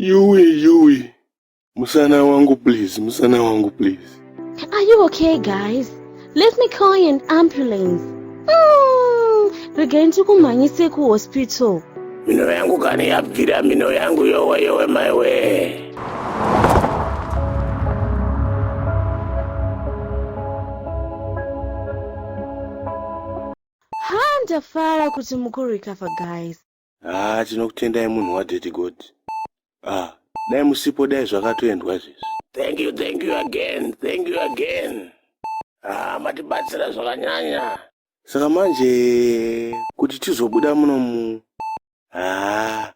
Yuwi, Yuwi, musana wangu please, musana wangu please. Are you okay, guys? Let me call an ambulance. Mm, regai ndikumhanyise kuhospital mino yangu kana yabvira mino yangu yowe yowe maiwee ndafara kuti mukurecover guys haa tinokutendai munhu wadheti god ah dai musipo dai zvakatoendwa izvezvi thank you thank you again thank you again ah matibatsira zvakanyanya saka manje kuti tizobuda munomu haa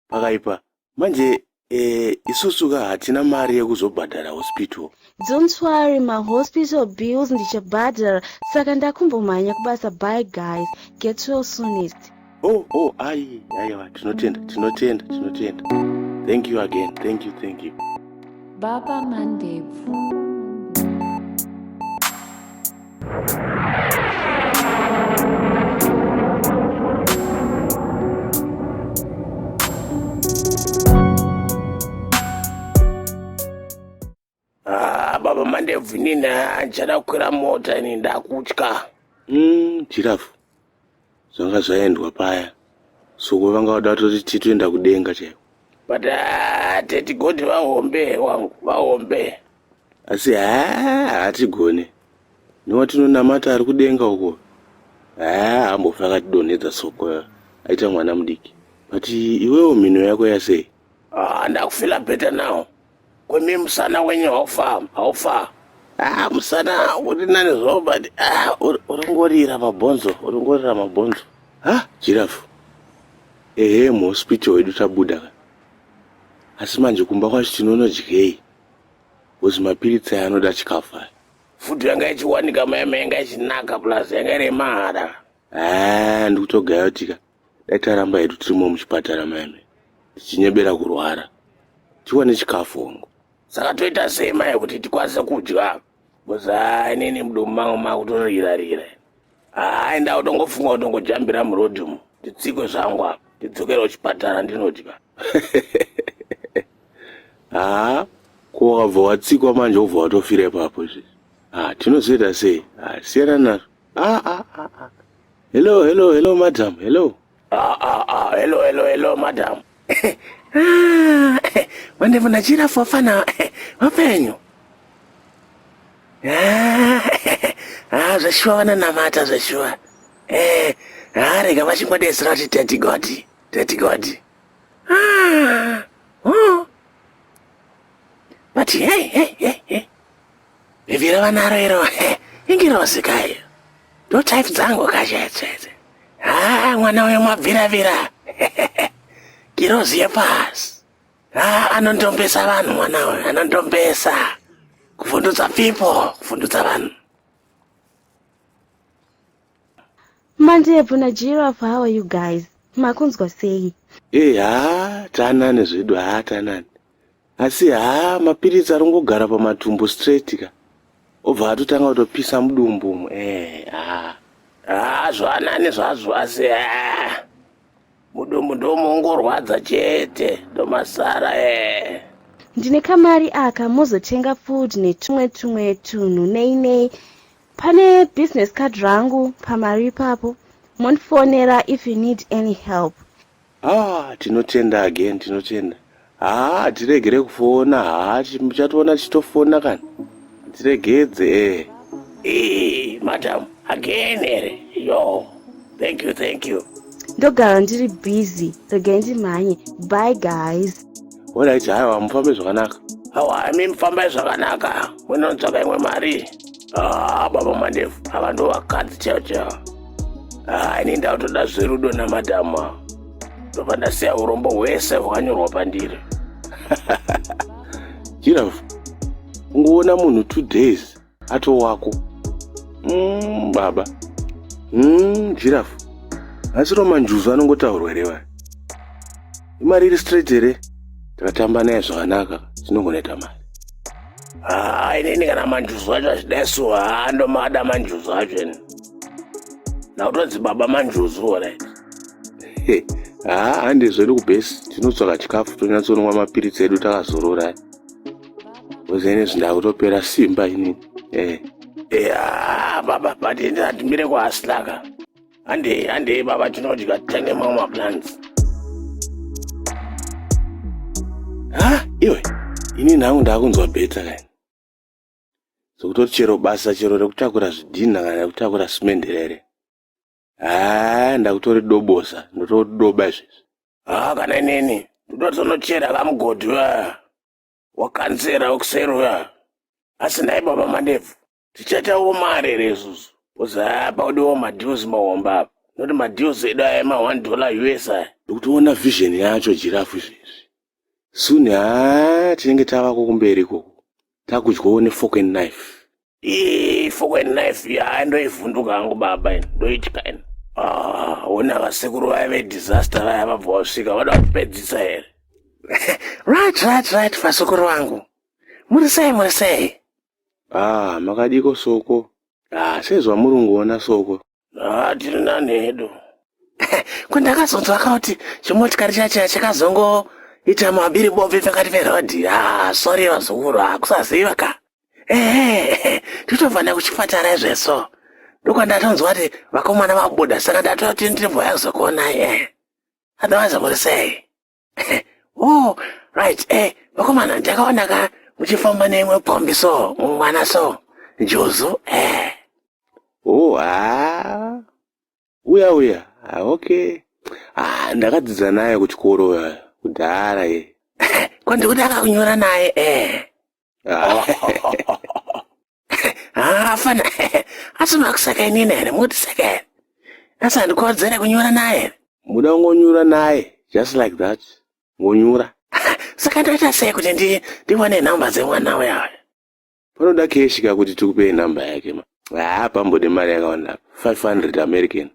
pakaipa manje eh, isusu ka hatina mari yekuzobhadhara hospital Don't worry, my hospital bills ndichabhadhara saka ndakumbomhanya kubasa bye guys. Get well soonest. oh oh ayi aiwa tinotenda tinotenda tinotenda thank you again thank you thank you Baba Mandebvu. Ah, baba mandebvu inini handichada kukwira mota ini ndakutya Mm, chirafu zvanga zvaendwa paya soko vanga vada vatoti titoenda kudenga chaiko but ah, tetigoti vahombe wangu vahombe asi haa hatigone newatinonamata ari kudenga uko haa ambofa akatidonhedza soko aita mwana mudiki but iwewo mhino yako yasei Ah, ndakufila bheta nawo kwemi musana wenyu haufa haufa ah, musana uri nani zvawo but ah, uringorira mabhonzo uringorira mabhonzo ha jirafu ehe muhospital wedu tabuda ka asi manje kumba kwacho tinonodyei bcause mapiritsi aya anoda chikafu aya futi yanga ichiwanika mayama yanga ichinaka plus yanga iri yemahara ah, ndikutogaya kuti ka Dai taramba hedu tirimo muchipatara maime tichinyebera kurwara tiwane chikafu hongu. Saka toita sei mai kuti tikwanise kudya? Buzaa inini mudomu mangu makutorira rira. Haa inda utongofunga utongojambira murodhi umu titsikwe zvangu apa tidzokere kuchipatara ndinodya. Haa ko wakabva watsikwa manje wobva watofira ipapo izvi. Haa tinozoita sei? Haa siyana nazvo. Ah, ah, ah, ah. Hello, hello, hello, madam. Hello. Ah, ah, ah. Hello, hello, hello, madam. ah, wandevu nachira fofana wapenyu. Ah, ah, zveshuwa vananamata zveshuwa. Eh, ah, rega vachingodesera kuti teti goti, teti goti. Ah, oh. But hey, hey, hey, hey. Bhebhi ravanaro iro ingirozi kayo ndotype dzangu kachetsetse haa ah, mwana uyo mabviravira girozi yepasi haa ah, anondombesa vanhu mwana uyo anondombesa kuvhundutsa pipo kuvhundutsa vanhu mandebvu najiraf how are you guys makunzwa sei ee eh, haa tanani zvedu haa tanani Asi haa mapiritsi arongogara pamatumbu straight ka obva atotanga kutopisa mudumbu umu ee eh, haa haa zvanani zvazvo asi ee mudumbu ndomongorwadza chete ndomasara ee ndine kamari aka mozotenga food netumwe tumwe tunhu nei nei pane business card rangu pamari ipapo mondifonera if you need any help haa tinotenda again tinotenda haa tiregere kufona haa muchatoona tichitofona kana tiregedze ee ee madam again here yo thank you thank you ndogara ndiri busy regai ndimhanye by guys olright haiwa mufambe zvakanaka awa imi mufambai zvakanaka munonzvaka imwe mari Ah, baba mandefu ava ndo vakadzi chaivo chaivo ah, ini ndautoda zverudo namadama ndobva ndasiya urombo hwese hwakanyorwa pandiri jirafu ungoona munhu two days ato wako mm, baba mm, jirafu asi romanjuzu anongotaurwa here vaya imari iri straight here takatamba naye zvakanaka tinongonoita mari haa inini kana manjuzu acho achidai so haa ndomada manjuzu acho ini ndakutonzi baba manjuzu orit haa hande zvedu kubhesi tinotsvaka chikafu tonyatsonwa mapiritsi edu takazorora kozi ini zvindakutopera simba inini eh. ya baba but ini handimire kwahasilaka handei handei baba tinodya tenge mamwe maplans ha iwe ini nhangu ndaakunzwa beta kani zokutoti chero basa chero rekutakura zvidhinha kana rekutakura simenderere haa ndakutori dobosa ndotodoba izvezvi haa kana inini ndotonochera kamugodhi wa wakanzera ukuseri uya asi nhai baba mandebvu tichatawo mari here isusu bcause haa paudiwo madeals mahombe apa noti madeals edu aya ma one dollar us aya ndikutoona vision yacho jirafu izvezvi soon haa tinenge tavako kumberi ikoko takudyawo nefork and knife ii fork and knife yaa ndoivhunduka hangu baba ini ndoitya ini Ah, ona vasekuru vaya vedisaster vaya vabva vasvika vada kupedzisa here right right right vasekuru vangu muri sei muri sei Haa makadiko soko. Haa sezvamuri kungoona soko. Haa tiri nani hedu. Ko ndakazonzwa kuti chimotikari chacho chakazongoita mabiri bombi pakati perodhi. Haa sorry vazukuru hakusaziva ka. Ehe totobva nekuchipatara izveso. Ndokwandatonzwa kuti vakomana vabuda saka ndatoti ndimboya kuzokuonai. Otherwise muri sei? oh right eh vakomana ndakaona ka muchifamba neimwe kombi so mwana so juzu eh oh ah uya uya ah, okay ah ndakadzidza naye kuchikoro eh, kudhara ye eh. ko ndikuda akakunyora naye eh ah. hafana asi makusaka inini here moti saka here asi handikodzere kunyura naye here muda kungonyura naye just like that ngonyura saka ndoita sei kuti ndi ndiwane nhamba dzemwana uya uya panoda keshika kuti tikupei nhamba yake ma haa pambode mari yakawanda 500 american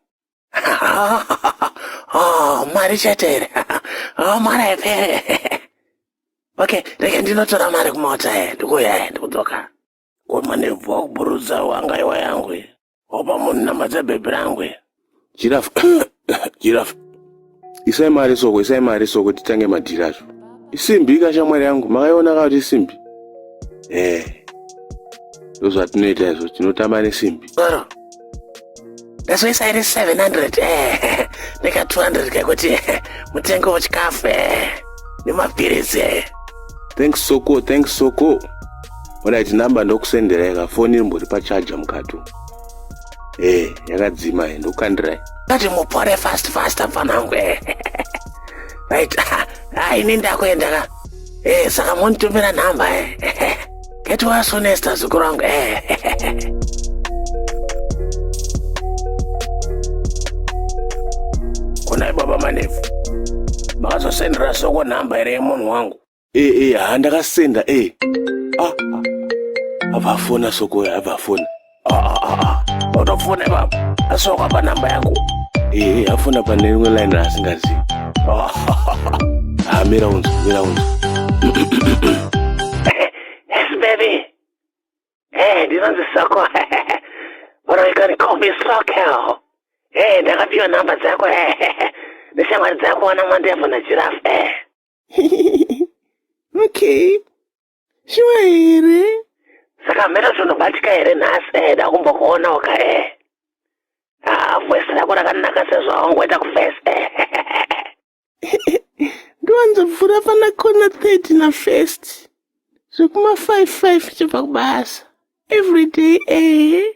oh, mari chete here oh, mari haipere okay rega ndinotora mari kumota e ndikuuya e ndikudzoka komanebva kuburudza wanga iwa yangu opa munhu namadza bhebhi rangu jiraf jiraf isai mari soko isai mari soko titange madhiri azvo isimbi ka shamwari yangu makaiona ka kuti isimbi ee ndozvatinoita izvo tinotamba nesimbi ndazoisa iri 700 eh, neka 200 kekuti eh, mutengo wechikafu eh, nemapiritsi eh. thanks soko thanks soko orit number ndokusenderai ka foni rimbori pachaja mukato ee eh, yakadzima e eh, ndokukandirai Ngati mupore fast fast mfanangu eh. Right. Ah, ini ndakuenda ka. Eh, saka monditumira nhamba eh. Get well soon Esther zukuru wangu eh. Kunai baba manefu. Makazosendera soko nhamba here yemunhu wangu? Eh eh ha ndakasenda eh. Ah. Avafona soko avafona. Ah ah ah. ah. Utofona baba. Asoko pa namba yangu. Eh eh afona pa newe line asingazi. Ah. Ah mira unzo mira unzo. Yes baby. Eh ndinonzi soko. What are you gonna call me soko? Eh ndakapiwa namba dzako eh. Neshamwari dzako wana mwandefu na giraffe eh. okay shuwa here saka mhera zvinobatika here nhasi eh, dakumbokuona waka eh. ah, vhesi rako rakanaka sezvawangoita kuvhesi eh. ndiwanzobvura fana kona 30 na first zvekuma 55 chibva kubasa everyday eh.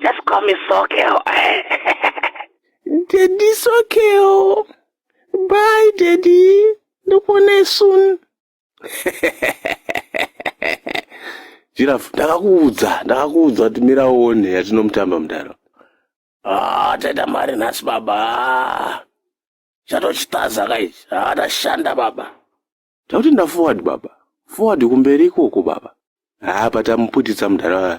Just call me Sokeo. Daddy Sokeo. Bye, Daddy. Ndopone soon. Giraffe, ndakakuudza, ndakakuudza kuti mira uone yatinomutamba mudaro. Ah, taita mari nhasi baba. Chatochitaza kaichi. Ah, tashanda baba. Takuti nda forward baba. Forward kumberi ikoko baba. Ah, patamuputitsa mudaro.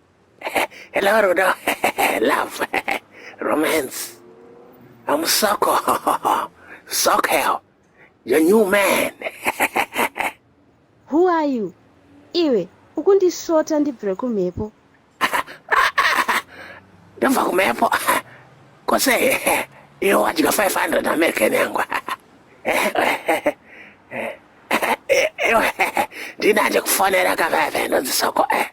Hello, Rudo. Love. Romance. I'm Soko. Soko. Your new man. Who are you? Iwe, ukundisvota ndibvire kumhepo. Ndobva kumhepo. Kose, iwe wadya 500 American yangu. Ndinanje kufonera kaveve ndonzi Soko. Eh.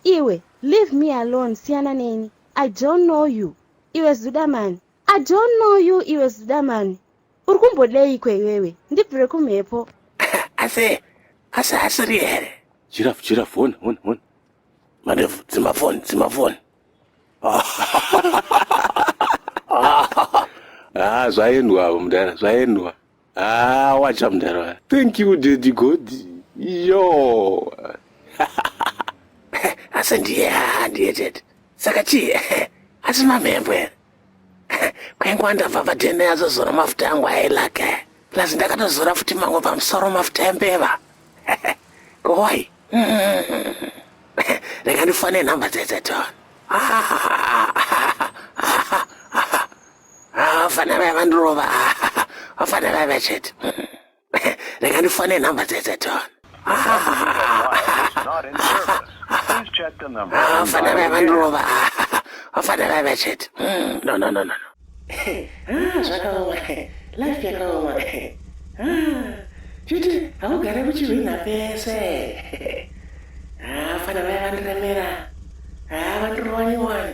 Iwe leave me alone siyana neni I don't know you iwe zudamani. I don't know you iwe zudamani. Uri kumbodeiko iwewe ndibvire kumhepo. Asi asi asiri here? Chirafu chirafu hona hona hona. Mandevu dzima phone dzima phone. Ah zvaendwa avo mudara zvaendwa. Ah, wacha mdara waya. Thank you daddy God. Yo. Asi ndiye ndiye chete. Saka chii? Asi mamhembo here? Kwaingwa ndabva padhene azozora mafuta angu ailake. Plus ndakatozora futi mangu pamusoro mafuta embeva. Koi. Rega ndifane nhamba dzedze tona. Ah. vafana vaya vandirova vafana vaya vachete rega ndifane nhamba dzese tona vafana vaya vandirova vafana vaya vachete no no no no zvakaoma life yakaoma chiti haugare kuchihwina pese vafana vaya vandiremera vandirova nyowani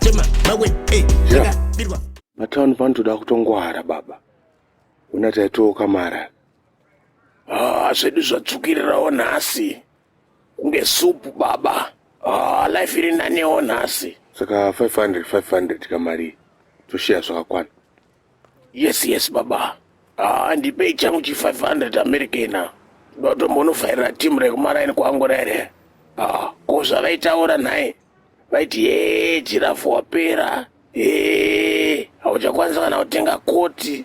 chema mawe eh yeah. birwa matown pano toda kutongwara baba una taitooka mara ah zvedu zvatsvukirirawo nhasi kunge supu baba ah life iri nanewo nhasi saka 500 500 kamari toshiya zvakakwana Yes yes baba. Ah ndipei changu chi 500 American. Ndotombonofayira team rekumaraini kwangu rere. Ah ko zvavaitaura nhai? Vaiti yee jirafu wapera. Eee hauchakwanisa kana kutenga koti.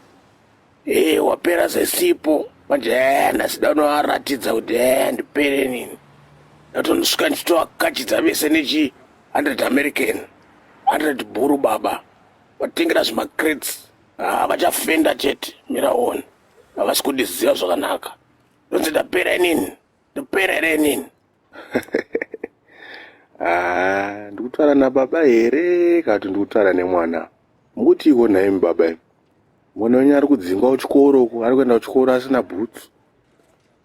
Eee wapera sesipo. Manje eh ndasida unovaratidza kuti eh ndipere nini. Ndatonosvika ndichitovakachidza vese nechi 100 American. 100 bhuru baba. vatengera zvimacrates ah, vachafenda chete miraoni havasi kundiziva zvakanaka ndonzi ndapera inini ndapera here inini ah, ndikutaura nababa here kati ndikutaura nemwana mukuti iko nhaimi baba mwana wenyu ari kudzingwa kuchikoro uko ari kuenda kuchikoro asina bhutsu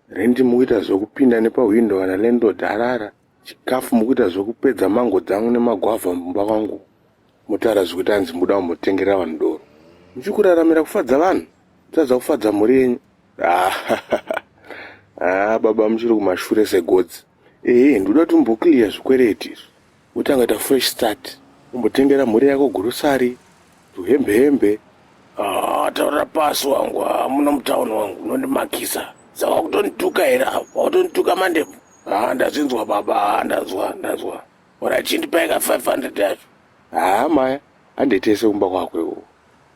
Rent mukuita zvekupinda nepahwindo kana landlord arara. Chikafu mukuita zvekupedza mango dzangu nemagwavha mumba kwangu. Motaura zvekuti hanzi mukuda kumbotengerera vanhu doro. Muchikuraramira kufadza vanhu, mutadza kufadza mhuri yenyu. Ah, baba muchiri kumashure segodzi. Ehe, ndoda kuti mumboclear zvikwereti izvi. wotanga kuita fresh start umbotengera mhuri yako gurusari tuhembe hembe ah, taurira pasi wangu ah, muno mutown wangu unondimakisa saka kutonituka here avo vakutonituka mandebvu ah, ndazvinzwa baba ndazwa ndazwa ora chindipaika 500 yacho haa maya handitese kumba kwako iwo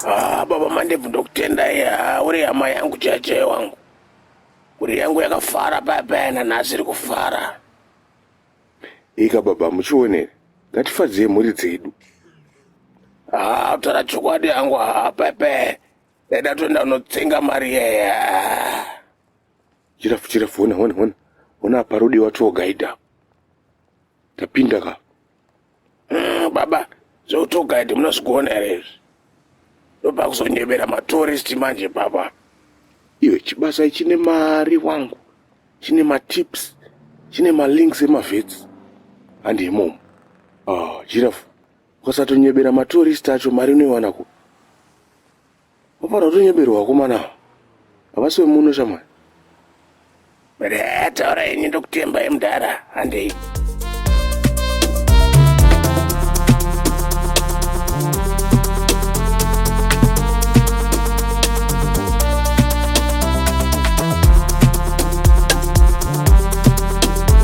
Ah, baba Mandebvu ndokutendai. Ah, uri hama yangu cheche wangu. Uri yangu yakafara paya paya nanhasi iri kufara. Ika baba muchionere. Ngatifadzei mhuri dzedu. Ah, tara chokwadi yangu ah, pepe. Eda toenda unotsenga mari yeye. Ah. Chirafu chirafu hona hona hona. Hona apa rodiwa tour guide apa. Tapinda ka. Mm, baba zveutogaidi munozvigona here izvi ndopakuzonyebera matoristi manje baba iyo chibasa ichine mari wangu chine matips chine malinks emavetsi handi imomo ah, jirafu ukasatonyebera matoristi acho mari unoiwana ku Vapara kutonyeberwa vakomana ava. Havasi vemuno shamwari. Taura ini ndokutembai mudhara handei.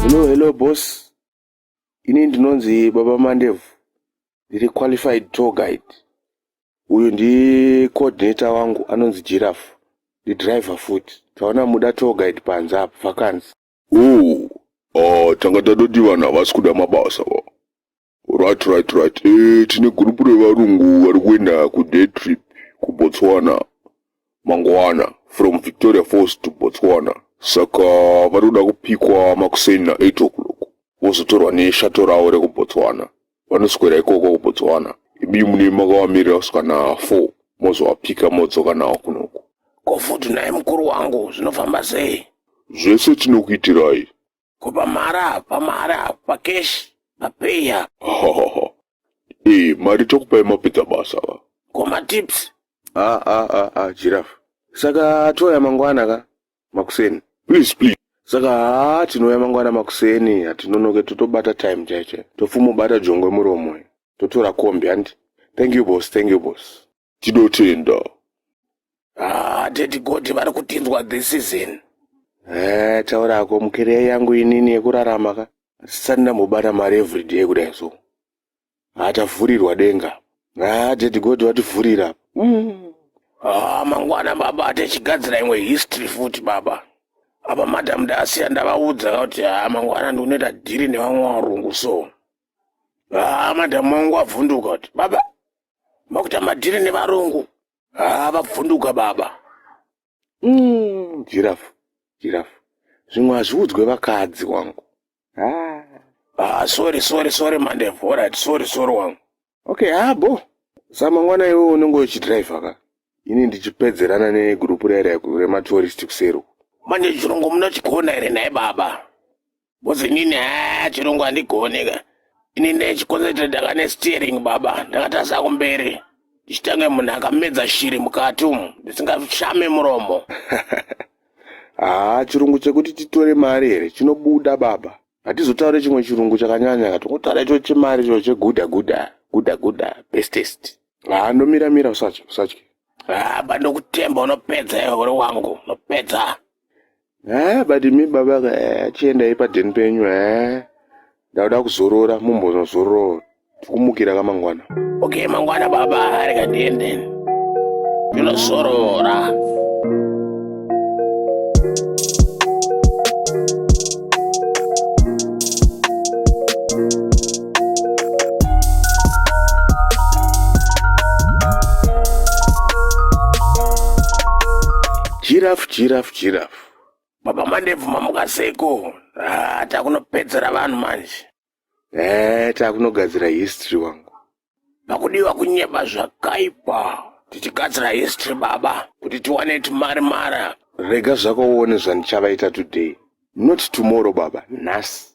Hello, hello boss. Ini ndinonzi Baba Mandebvu, ndiri qualified tour guide. Uyu ndi coordinator wangu anonzi Giraffe, ndi driver foot. Taona muda tour guide panze apa vakanzi. Oh, ah, tanga tatoti vanhu havasi kuda mabasa va. Right, right, right. Eh, tine group revarungu vari kuenda kuday trip kuBotswana. mangwana from victoria falls to botswana saka vari kuda kupikwa makuseni na8 o'clock vozotorwa neshato ravo rekubotswana vanoswera ikoko kubotswana ibi mune makavamirira kusvika na4 mozovapika modzoka nawo kunoku ko futi naye mukuru wangu zvinofamba sei zvese tinokuitirai ko pamari apa pamari apa pakeshi papeyi apa hahaha ee mari tokupai mapedza basa va ko matips a a a a giraffe saka touya mangwana ka makuseni please please saka haa tinouya mangwana makuseni hatinonoke totobata time chaicho topfumobata jongwe muromo totora kombi handi thank you boss thank you boss Tinotenda. Ah, tete Godi vari kutinzwa this season. Eh, taura hako mukeriya yangu inini yekurarama ka. Sisani ndambobata mari everyday kudai so. Ah, tavhurirwa denga. Ah, tete Godi vativhurira. Mm. Ah, mangwana baba tichigadzira imwe history futi baba. Apa madam ndasiya ndavaudza ka kuti ah, mangwana ndinoita dhiri nevamwe varungu so. Ah, madam wangu wavhunduka kuti baba makuita madhiri nevarungu haa vabvunduka baba mm, jirafu jirafu zvimwe hazviudzwe vakadzi wangu haa ah, sorry sorry sorry mandevu orit sorry sorry wangu okay habo samangwana iwe unenge uchidrivha ka ini ndichipedzerana negurupu raira rematurist kuseri manje chirungu munochigona here nhai baba Boss inini haa chirungu handigone ka. Ini ndechikonzeta ndanga nesteering baba ndakatasa kumberi. Ndichitange munhu akamedza shiri mukati umu ndisingashame muromo. Haa chirungu chekuti titore mari here chinobuda baba. Hatizotaure chimwe chirungu chakanyanya ka tongotaura icho chemari icho cheguda guda guda guda bestest. Haa ndomira mira usatye usatye. Haa bandokutemba unopedza iwe uri wangu unopedza. haa but mi baba ka eh, chiendai padheni penyu haa eh. ndakuda kuzorora mumbonozorora tikumukira kamangwana okay mangwana baba ari kadiende ndinozorora Giraffe, giraffe, giraffe. Baba Mandebvu mamuka seiko? Ah, takunopedzera vanhu manje. Eh, takunogadzira history wangu. Pakudiwa kunyeba zvakaipa. Tichigadzira history baba kuti tiwane timari mara. Rega zvako uone zvandichavaita today. Not tomorrow baba, nhasi.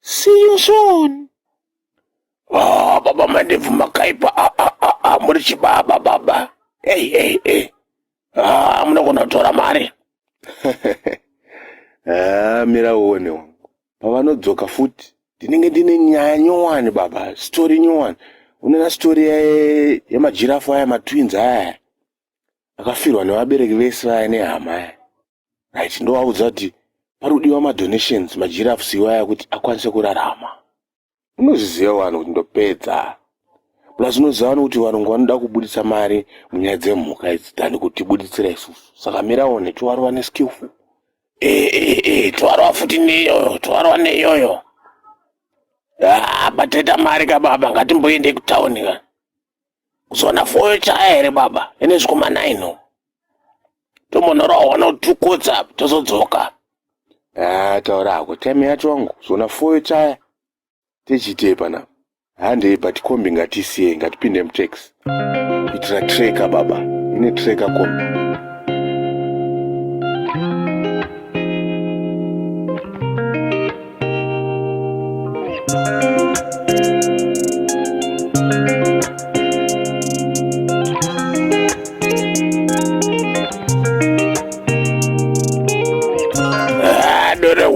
See you soon. Oh, baba mandevu makaipa ah, ah, ah, ah, muri chibaba baba hey, hey, hey. Ah, munogona kutora mari ah, mira uone wangu pavanodzoka futi ndinenge ndine nyaya nyowani baba story nyowani unena story yemajirafu aya matwins aya akafirwa nevabereki vese vaya nehama aya right ndovaudza kuti pari kudiwa madonations magirafs iwaya kuti akwanise kurarama unozviziva vanhu kuti ndopedza plus unoziva vanhu kuti varungu vanoda kubudisa mari munyaya dzemhuka idzi tani kuti buditsira isusu saka miraone tovarova neskillful eh, eh, eh, tovarova futi neyoyo tovarova neyoyo ah, bataita mari kababa ngatimboendei kutauni ka kuzoona foyo chaya here baba ine zvikoma naino tombonorohwa notukotsa tozodzoka ah, taura hako time yacho wangu zona foyo chaya tichiitei pana handei but kombi ngatisiye ngatipinde mutax kuitira treka baba ine treka kombi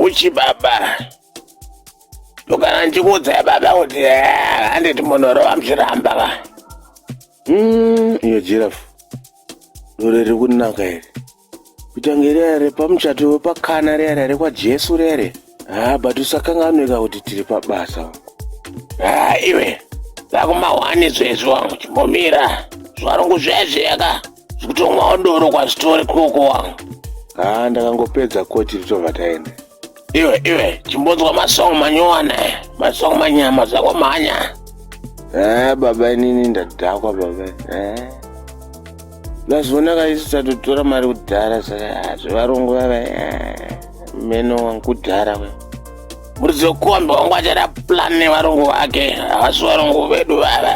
kuchi baba ndokana ndikuudzai baba kuti eh, handiti munhu ro vamuchiramba ka mm, iyo jirafu dore riri kunaka here kuita kunge riya repamuchato wepakana riya riya rekwajesu riya riya haa but usakanganweka kuti tiri pabasa haa iwe vakumahwani zvezvi wangu chimbomira zvarungu zvezveka zvikutomwawo doro kwazitori koko wangu haa ndakangopedza koti ritobva taenda iwe iwe chimbonzwa masong manyowani masong manyama zvako mhanya eh, baba inini ndadhakwa baba eh. lazvionaka isu tatotora mari kudhara saka zvevarungu vava eh, meno wangu kudhara we murizokombe wangu achada plan nevarungu vake havasi varungu vedu vava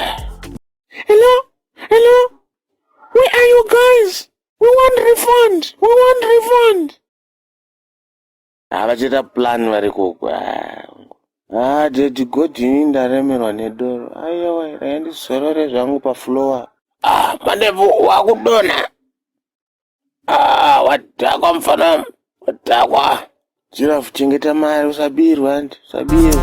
hello hello where are you guys we want refund we want refund havachaita plan vari koko ah dedi god ini ndaremerwa nedoro aiwa raindizorore zvangu paflowa ah mandevu wakudonha ah wadhakwa mufana wadhakwa jirafu chengeta mari usabirwa ndi usabirwa